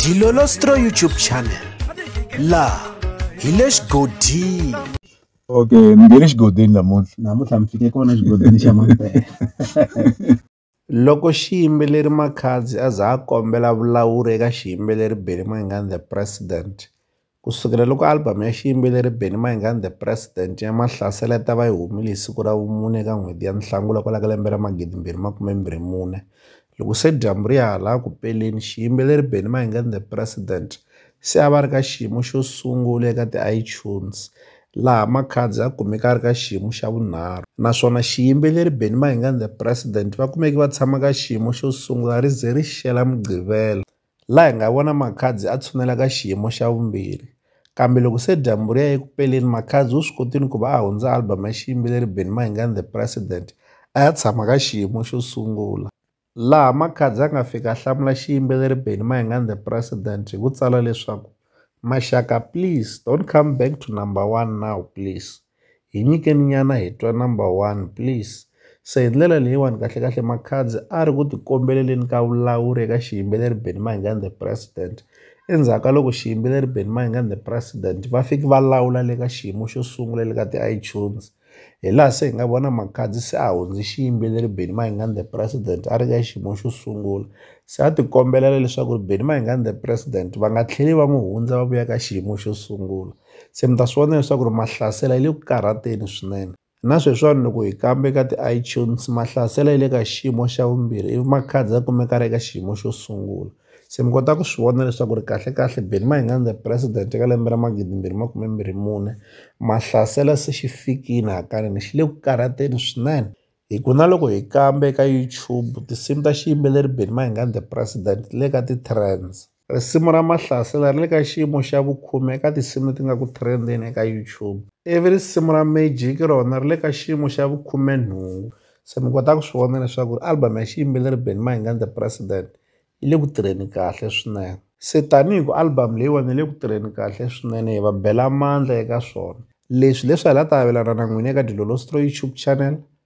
dilolostro youtube channel laha hi le xigodini okay ni nge le xigodini namuntlha namuntlha mi fike kona xigodini xa mampela loko xiyimbeleri makhadzi a za a kombela vulawuri eka xiyimbeleri benny mayengani the president Ku sukela loko album ya xiyimbeleri Benny Mayengani The President ya Mahlasela yi ta va yi humile hi siku ra vumune eka n'hweti ya Nhlangula kwala ka lembe ra 2024, loko se dyambu ri ya hala ku peleni, xiyimbeleri Benny Mayengani The President se a va ri ka xiyimo xo sungula eka ti-iTunes, laha Makhadzi a kumeke a ri ka xiyimo xa vunharhu, naswona xiyimbeleri Benny Mayengani The President va kumeke va tshama ka xiyimo xo sungula ri ze ri xela Mugqivela laha hi nga vona Makhadzi a tshunela ka xiyimo xa vumbirhi. Kambe loko se dyambu ri ya eku peleni, Makhadzi u swi kotile ku va a hundza album ya xiyimbeleri Benny Mayengani The President a ya tshama ka xiyimo xo sungula, laha Makhadzi a nga fika a hlamula xiyimbeleri Benny Mayengani The President hi ku tsala leswaku, Maxaka please don't come back to number one now please. hi nyikeni nyana hi twa number one please se hi ndlela leyiwani kahlekahle makhadzi a ri ku tikombeleleni ka vulawuri eka xiyimbeleri benny mahingani the president endzhaku ka loko xiyimbeleri benny mahingani the president va fiki va lawula le ka xiyimo xo sungula le ka ti-itunes hi laha se hi nga vona makhadzi se a hundzi xiyimbeleri benny mahingani the president a ri ka xiyimo xo sungula se a tikombelela leswaku ri benny mahingani the president va nga tlheli va n'wi hundza va vuya ka xiyimo xo sungula se mi ta swi vona leswaku ri mahlasela yi le ku karhateni swinene na sweswiwani loko hi kambe ka ti-itunes mahlasela yi le ka xiyimo xa vumbirhi ivi makhadzi ya kumeka ri eka xiyimo xo sungula se mi kota ku swi vona leswaku ri kahlekahle Benny Mayengani the president eka lembe ra magidi mbirhi makume mbirhi mune mahlasela se xi fikile hakanene xi le ku karhateni swinene hi ku na loko hi kambe ka YouTube tinsimu ta xiyimbeleri Benny Mayengani the president ti le ka ti-trends. Risimu ra Mahlasela ri le ka xiyimo xa vukhume eka tinsimu leti nga ku trend-eni eka YouTube, ivi risimu ra Magic rona ri le ka xiyimo xa vukhumenhungu. Se mi kota ku swi vona leswaku album ya xiyimbeleri Benny Mayengani The President yi le ku tirheni kahle swinene. Se tanihi ku album leyiwani yi le ku tirheni kahle swinene hi va bela mandla eka swona. Leswi hileswi a hi la ta avelana na n'wina eka Dilolo Stroy YouTube channel.